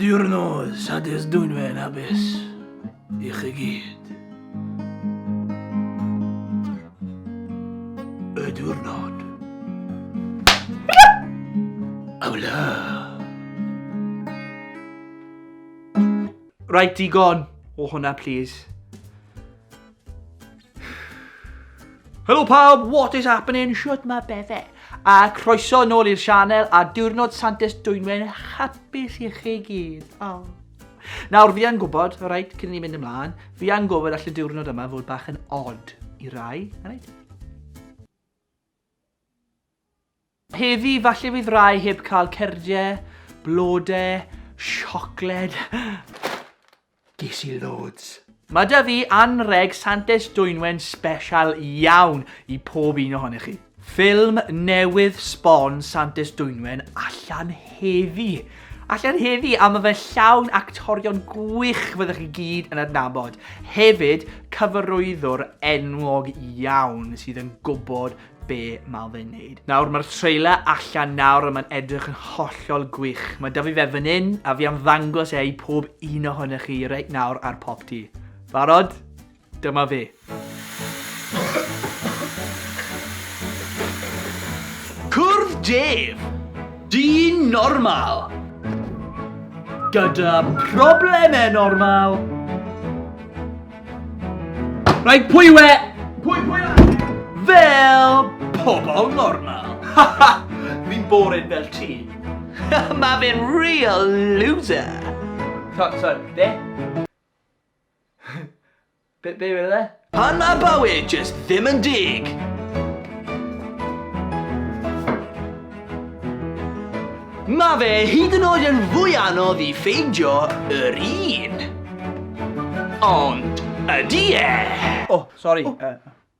Diwrnod Sadur's Dwynwen Hapus i chi gyd. Y diwrnod. Awla. Right, digon o hwnna, please. Helo pawb, what is happening? Shut my befe. A croeso yn ôl i'r sianel a diwrnod Santes Dwynwen hapus i chi gyd. Oh. Nawr, fi yn gwybod, rhaid, cyn i ni mynd ymlaen, fi yn gwybod all y diwrnod yma fod bach yn odd i rai, rhaid? Heddi, falle fydd rhai heb cael cerdie, blode, siocled. Ges i loads. Mae 'da fi anrheg Santes Dwynwen sbesial iawn i pob un ohonych chi. Ffilm newydd sbon Santes Dwynwen allan heddi! Allan heddi a mae fe llawn actorion gwych fyddwch chi gyd yn adnabod. Hefyd, cyfarwyddwr enwog iawn sydd yn gwybod be mae fe'n neud. Nawr, mae'r trailer allan nawr a mae'n edrych yn hollol gwych. Mae dyfu fe fan hyn a fi am ddangos e i pob un ohonych chi reit nawr ar Pop Tee. Barod? Dyma fe. Cwrdd Dave! Dyn normal! Gyda problemau normal! Rhaid pwy yw e? Pwy, pwy yw e? Fel pobl normal! Ha ha! Fi'n boring fel ti! Mae fe'n real loser! Sorry, sorry, be? Be, be wedodd e? Pan mae bywyd jyst ddim yn deg! Mae fe hyd yn oed yn fwy anodd i ffeindio yr un! Ond ydy e? O, sori.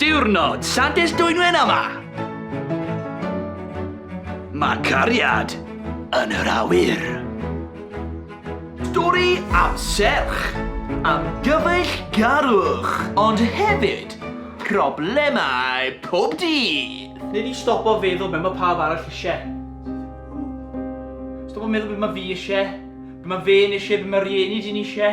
Diwrnod Santes Dwynwen yma! Mae cariad yn yr awyr. Stori am serch, am gyfeillgarwch, ond hefyd problemau pob dydd. Nei di stopo feddwl be mae pawb arall isie? Stopo meddwl be mae fi isie, be mae fe'n isie, be mae rhieni di'n isie?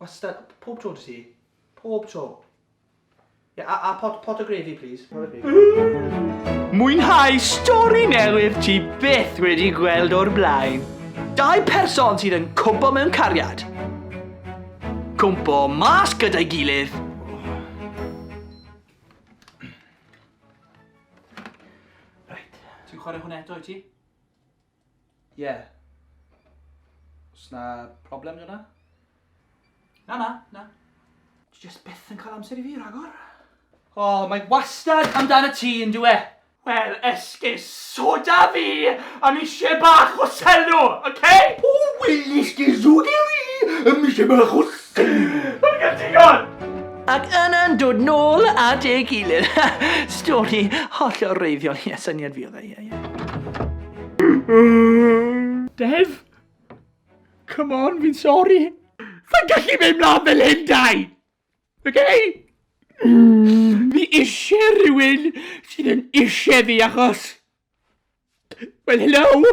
Wastad, pob tro dy ti. Pob tro. Yeah, a, a pot, pot o grefi, please. Pot o grefi. Mwynhau stori newydd ti byth wedi gweld o'r blaen. Dau person sydd yn cwmpo mewn cariad. Cwmpo mas gyda'i gilydd. Right. Ti'n chwarae hwn eto i ti? Ie. Oes 'na problem gyda? Na, na, na. Ti jyst byth yn cael amser i fi, rhagor. O, oh, mae wastad amdana ti yn dwi e. Wel, esgus, soda fi am eisiau bach o selo, oce? Okay? O, wel, esgus, soda fi am eisiau bach o selo. Mae'n gael digon! Ac yna'n dod nôl at ei gilydd. Stori hollol reiddiol, ie, syniad fi oedd e, ie. Dev! Come on, fi'n sori! Sa'n gallu mynd mlaen fel hyn, dau! Okay? Mm. Fi eisiau rhywun sydd yn eisiau fi achos... Wel, hello!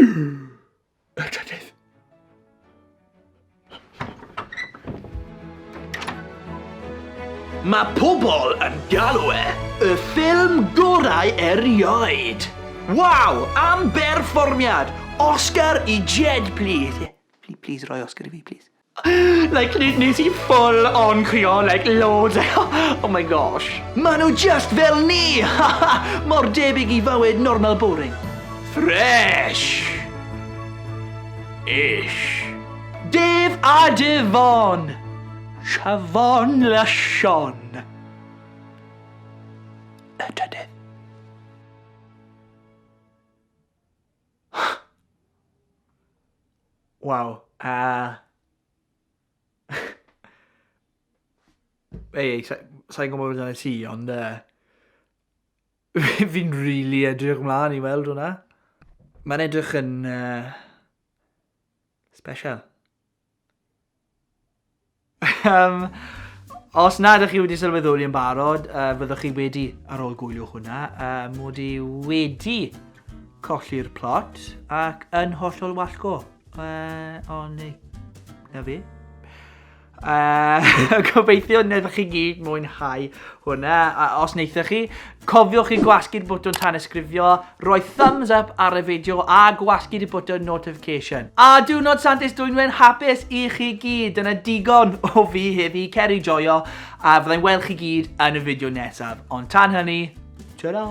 Yr trydydd. Mae pobl yn galw e y ffilm gorau erioed. Waw, am berfformiad! Oscar i Jed, plîs. Ie, plîs roi Oscar i fi, plîs. Like ne- nes i full on crio like loads oh my gosh. Ma' nhw just fel ni! Mor debyg i fywyd normal boring. Fresh! Ish. Dave a Devon! Siafon la Sian. Y trydydd. Waw, uh... Ei, ei, sa'n gwybod beth yna ti, ond... Uh... Fi'n rili really edrych mlaen i weld hwnna. Mae'n edrych yn... Uh... Special. um, os na ydych chi wedi sylweddoli yn barod, uh, fyddwch chi wedi, ar ôl gwylio hwnna, uh, mod i wedi colli'r plot ac yn hollol wallgo. Uh, ond na fi. Uh, gobeithio wnaethoch chi gyd mwynhau hwnna. A os wnaethoch chi, Cofiwch i gwasgu'r bwtwn tanysgrifio, rhoi thumbs up ar y fideo a gwasgu'r y bwtwn notification. A diwrnod Santes Dwynwen hapus i chi gyd, dyna digon o fi heddi, cer i joio a fyddai'n weld chi gyd yn y fideo nesaf, ond tan hynny, tara!